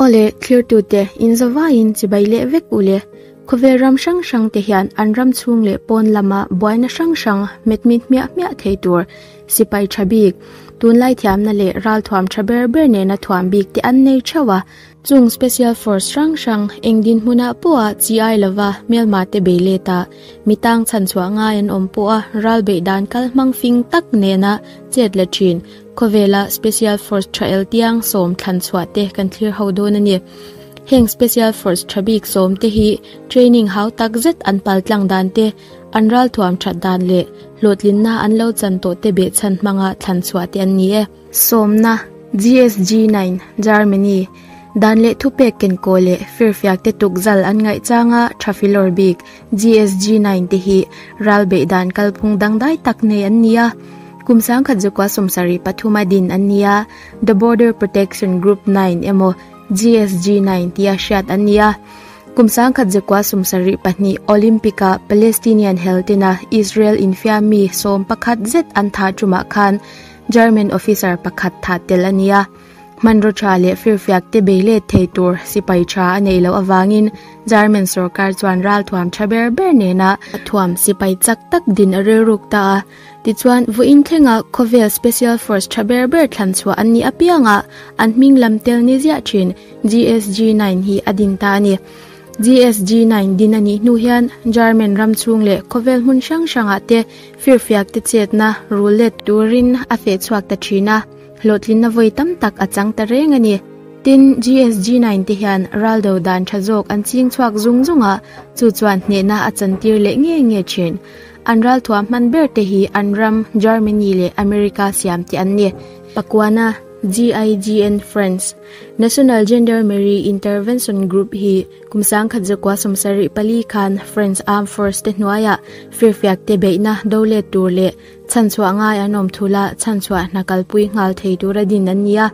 Aw le, thirtute, in zavaiin chibai leh vek u le. Khawvel ram hrang hrangte hian an ram chhung leh pawn lama buaina hrang hrang hmetmit hmiah hmiah thei tur sipai tha bik, tunlai thiamna leh ralthuam tha ber ber nena thuam bik te an nei theuh a. Chung Special Force hrang hrang eng dinhmuna pawha chi ai lova hmelmate beiletah mi tang chhanchhuah ngai an awm pawha ralbeih dan kal hmang fing tak nena chet leh thin, Khawvela Special Force tha el tiang sawm thlan chhuah te kan thlir ho dawn a ni. Heng Special Force tha bik sawm te hi training hau tak zet an paltlang dan te, an ralthuam that dan leh hlawhtlinna an lo chan tawh te beh chhan hmanga thlan chhuah te an ni e. Sawmna, GSG nine, Germany, dan leh thupek kenkaw leh firfiak te tukzal an ngaih changa Trafilor bik, GSG nine te hi ral beih dan kalphung dangdai tak nei an ni a, kum sangkhat Zokua sawmsarih pathum a din an ni a, The Border Protection Group nine emaw GSG nine tia hriat an ni a, kum sangkhat Zokua sawmsarih pahnih Olympic ah Palestinian heltena Israel infiam mi sawm pakhat zet an thah tumah khan German officer pakhat thah tel a ni a. Hmanraw tha leh firfiak te beilet thei tur sipai tha a nei loh avangin German sorkar chuan ralthuam tha ber ber nena a thuam sipai chak tak din a rilruk ta a. Tichuan, vuain thlenga khawvel special force tha ber ber thlan chhuah an nih apianga an hming lam tel ni ziah thin GSG nine hi a din ta a ni. GSG nine din a nih hnu hian German ram chhung leh khawvel hmun hrang hrangah te firfiak te chetna rul let turin a feh chhuak ta thin a. Hlawhtlinna vawi tam tak a chang ta reng a ni. Tin, GSG nine te hian ral do dan tha zawk an ching chhuak zung zung a, chu chuan hnehna a chantir leh nge nge thin. An ralthuam hman ber te hi an ram Germany leh America siam te an ni. Pakuana, GIGN France, National Gendarmerie Intervention Group, hi kum sangkhat zakua sawmsarih pali khan France Armed Force te hnuaia firfiak te beihna do let tur leh, Chhanchhuah ngai an awm thul a, chhanchhuah hna kalpui nghal thei tura din an ni a.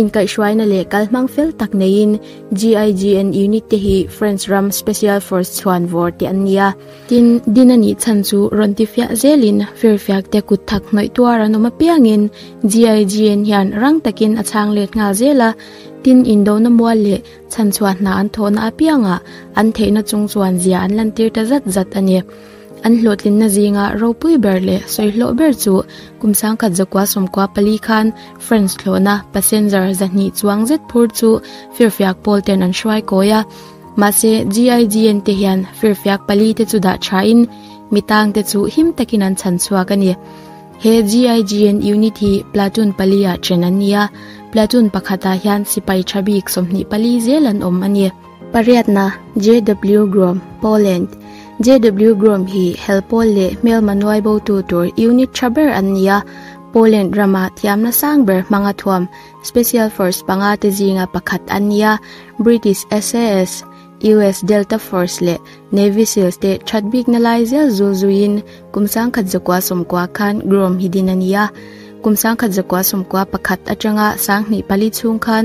Inkaihhruaina leh kalhmang fel tak neiin GIGN unit te hi French ram Special Force chhuan vawr te an ni a. Tin, din a nih chhan chu rawn ti fiah zelin firfiak te kutthak hnawih tuar an awm apiangin GIGN hian rang takin a chhang let nghal zel a. Tin, indona mual leh chhanchhuah hna an thawhna apiangah an theihna chung chuan zia an lantir ta zat zat a ni. An hlawhtlinna zinga ropui ber leh sawihlawh ber chu kum sangkhat zakua sawmkua pali khan friends thlawhna passenger zahnih chuang zet phur chu firfiak pawl ten an hruai kawi a. Mahse GIGN te hian firfiak pali te chu dah tha in mi tang te chu him takin an chhan chhuak a ni. He GIGN unit hi platoon pali ah chen an ni a, platoon pakhat ah hian sipai tha bik sawmhnih pali zel an awm a ni. Pariatna, JW Grom, Poland, JW Grom hi Helpawl leh Hmelmanuai botu tur unit tha ber an ni a, Poland rama thiamna sang ber hmanga thuam Special Force panga te zinga pakhat an ni a, British SAS, US Delta Force leh Navy Seals te that bikna lai zel zul zuiin kum sangkhat zakua sawmkua khan Grom hi din a ni a, kum sangkhat zakua sawmkua pakhat atanga sanghnih pali chhung khan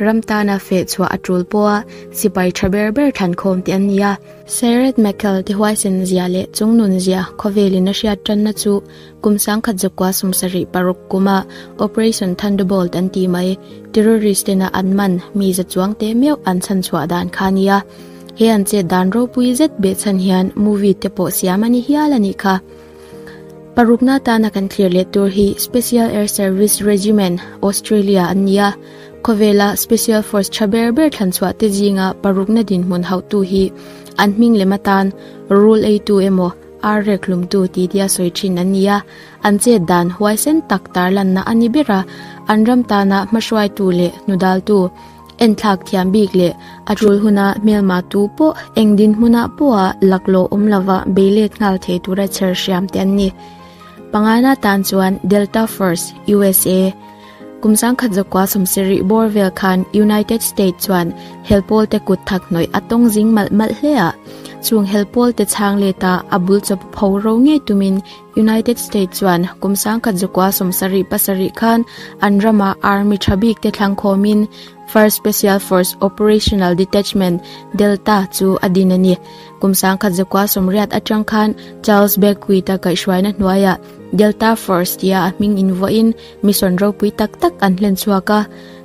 Ram tana feh chhuah a tul pawh a, sipai tha ber ber thankhawm te an ni a. Sairet Mekal te huaisen zia leh chung nun zia khawvelin a hriat tanna chu kum sangkhat zakua sumsarih paruk kuma Operation Thunderbolt an tih mai terrorist tena an man mi za chuang te meuh an chhan chhuah dan kha a ni a. He an chet dan ropui zet beh chhan hian movie te pawh siam a ni hial a nih kha. Parukna tana kan thlir leh tur hi Special Air Service Regiment, Australia, an ni a, khawvela Special Force tha ber ber thlanchhuah te zinga parukna dinhmun hauhtu hi an hming lem atan rul eitu emaw ar rek hlumtu tih tia sawi thin an ni a, an chet dan huaisen tak tarlanna a ni ber a, an ram tana hmahruaitu leh hnudaltu Enthlak thiam bik leh a tul huna hmelma tu pawh eng dinhmuna pawha laklawh awm lova beilet nghal thei tura chher hriam te an ni. Pangngai na tan chuan Delta Force, usa, kum sangkhat zakua sawmse rih bawr vel khan United States chuan hel pawlte kut thak hnawih a tawng zing malh malh hle a. Chung hel pawlte chhang leta a bul chaw pho ro ngei tumin, United States chuan kum sangkhat zukua sawm sarih pasarih khan an rama army tha bik te thlangkhawm in First Special Force Operational Detachment, Delta, chu a din a ni. Kum sangkhat zukua sawm riat atang khan Charles Beckwith-a kaihhruaina hnuaiah Delta Force tia a hming in vuah in mission ropui tak tak an hlen chhuak a.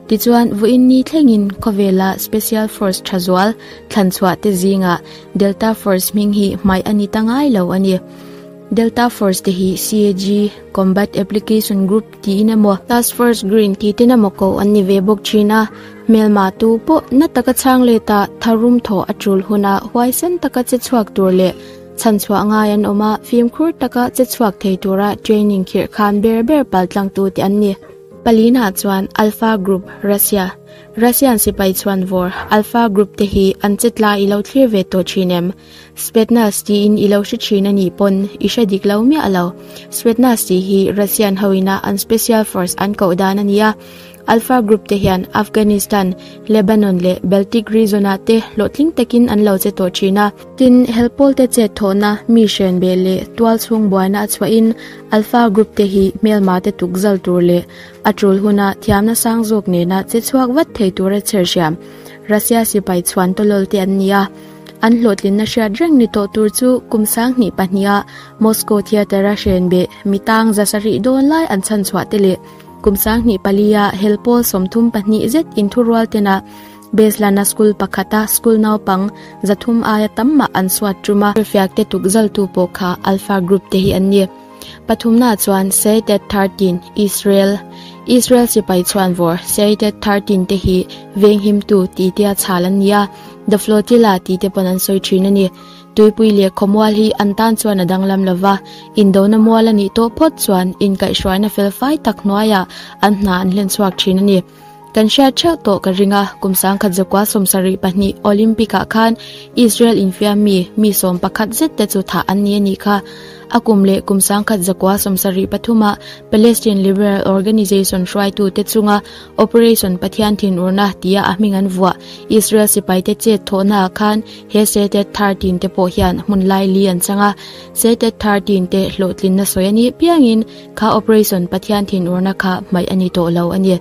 Tichuan vuah in ni thleng in khawvela Special Force tha zual thlan chhuah te zingah Delta Force hming hi hmaih a ni ta ngai lo a ni. Delta Force te hi CAG, Combat Application Group, tiin emaw, Task Force Green tih ten emaw ko an ni ve bawk thin a, hmelma tu pawh na taka chhang let a, tharum thawh a tul hun ah huaisen taka che chhuak tur leh chhan chhuah ngai an awm a, fimkhur taka che chhuak thei tur a training khirh khan ber ber pal tlang tu te an ni. Palin ah chuan Alpha Group, Russia, Russian sipai chhuan vawr Alpha Group te hi an che tla i lo thlir ve tawh thin em? Spetsnaz tiin i lo hre thin a nih pawn i hre dik lo miah lo. Spetsnaz tih hi Russian ho ina an Special Force an koh dan a nia. Alpha Group te hian Afghanistan, Lebanon leh Baltic Region ah te hlawhtling takin an lo che tawh thin a. Tin, help pawl te chet thawhna, mi hrian beh leh tual chhung buaina a chhuah in Alpha Group te hi hmelma te tukzal tur leh a tul huna thiam nasang zawk nena che chhuak vat thei tura chherhhriam Russia sipai chhuan tawlawlte an nia. An hlawhtlinna hriat reng ni tawh tur chu kum sang hnih pahnih a Moscow Theatre-a hriain beh mi tang za sa rih dawn lai an chhan chhuah te leh kum sang hnih pali a hel pawl sawmthum pahnih zet in thurual tena Beslana School pakhata school naupang za thum aia tam mah an suat tum a. Fiakte tukzaltu pawh kha Alpha Group te hi an ni. Pathumna chuan Seated Thirteen, Israel, Israel sipai chhuanvawr Seated Thirteen te hi venghimtu tih te a chhal an ni a, The Flotilla tih te pawn an sawi thin a ni. Tuipui leh khawmual hi an tan chuan a danglam lo va, indona mual a nih tawh phawt chuan inkaihhruaina fel fai tak hnuaiah an hna an hlenchhuak thin a ni. Kan hriat theuh tawh ka ring a, kum sangkhat zakua sawm sarih pahnih Olympic ah khan Israel infiam mi mi sawm pakhat zet te chu thah an ni a nih kha. A kum leh kum sangkhat zakua sawm sarih pathum ah Palestine Liberal Organization hruaitu te chunga Operation Pathian thinurna tia a hming an vuah Israel sipai te chet thawh na ah khan he Setet Thar tin te pawh hian hmun lai li an chang a. Setet Thar tin te hlawhtlin na sawi a nih piang in Kha operation Pathian thin urna kha hmaih a ni tawh lo a ni.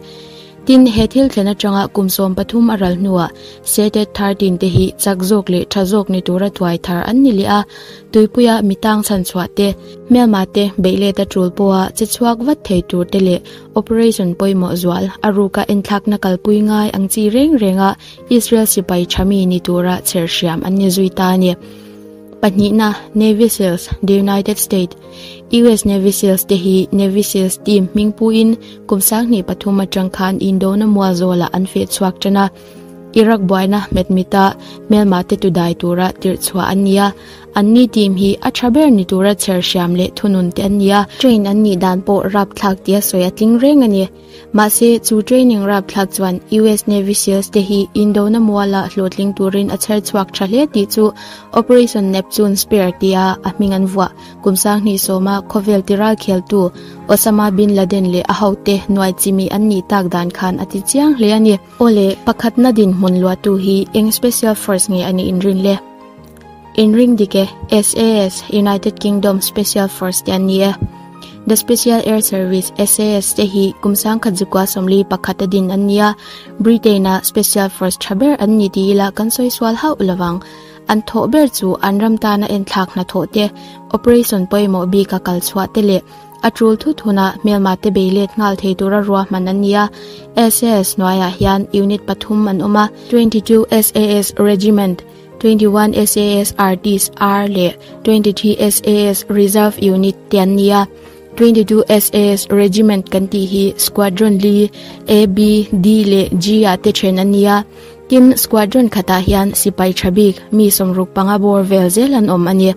Tin, he thil thlen atanga kum sawm pathum a ral hnuah Setet thar tin te hi chak zawk leh tha zawk ni tura tuai thar an ni leh a. Tuipuia mi tang chhan chhuah te, hmelma te, beihlet a tul pawha che chhuak vat thei tur te leh operation pawimawh zual a ruka enthlakna kalpui ngai ang chi reng renga Israel sipai tha mi ni tura chher hriam an ni zui ta a ni. Pahnihna, Navy Seals, The United States. US Navy Seals te hi Navy Seals team hming pu in kum sang ni pathum a chang kha an Indo na mua zo la an fe chuak chana Iraq buai na met mita mel ma te tu dai tura tir chua an nia an ni team hi a tha ber ni tura chher hriam le thunun te an nia train an ni dan po rap thlak tia soi a tling reng ani Mahse, chu training rap thla chuan US Navy Seals te hi Indona muala hlawhtling turin a chher chhuak tha hle tih chu Operation Neptune Spear tia a hming an vuah. Kum sang hnih sawma khawvel tiral kheltu Osama Bin Laden leh a hote hnuai chimi an nih tak dan khan a ti chiang hle a ni. Awle, pakhatna dinhmun luatu hi eng Special Force nge a nih inrin le? In ring dik e, SAS, United Kingdom Special Force te an ni e. The Special Air Service, SAS, te hi kum sang khat zukua sawmli pakhat a din an nia, Britain a Special Force tha ber an ni tih ila kan sawi sual hauh lovang. An thawh ber chu an ram tan a en thlak hna thawh te, operation pawimawh bik a kal chhuah te leh a tul thut hun a hmelma te bei let nghal thei tur a rua hman an nia. SAS hnuaiah hian unit pathum an awm a, Twenty two SAS Regiment, twenty one SAS RDs R leh twenty three SAS Reserve Unit te an ni a twenty two SAS Regiment kan tih hi squadron li A B D leh G a te then an ni a tin squadron khata hian sipai thabik mi somruk panga bor vel zel an awm ani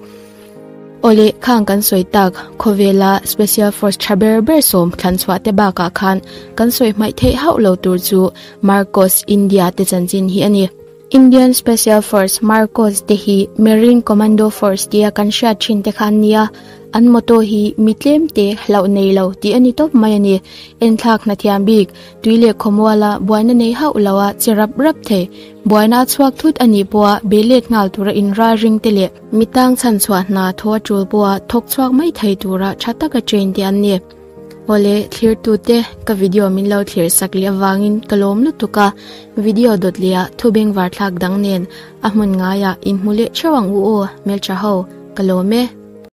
ole khang kan soi tak khovela special force thaber ber som thlan chhuah te baka khan kan soi mai thei hauh lo tur chu Marcos India te chanchin hi ani Indian Special Force, Marcos, te hi Marine Commando Force tia kan hriat thin te kha an nia, an motto hi mi tlemte hlauh nei lo tih a ni tawp mai a ni. Enthlak hnathiam bik, tui leh khawmuala buaina nei hauh lo a, che rap rap thei, buaina a chhuak thut a nih pawha be let nghal tura inralring te leh mi tang chhan chhuah hna thaw a tul pawha thawk chhuak mai thei tura tha taka train te an ni. Awle thlirtute ka video min lo thlir sak leh avangin ka lawm lutuk a, video dawt leh a thubeng var thlak dang nen a hmun ngaiah inhmu leh theuh ang u aw hmeltha ho, ka lawm e.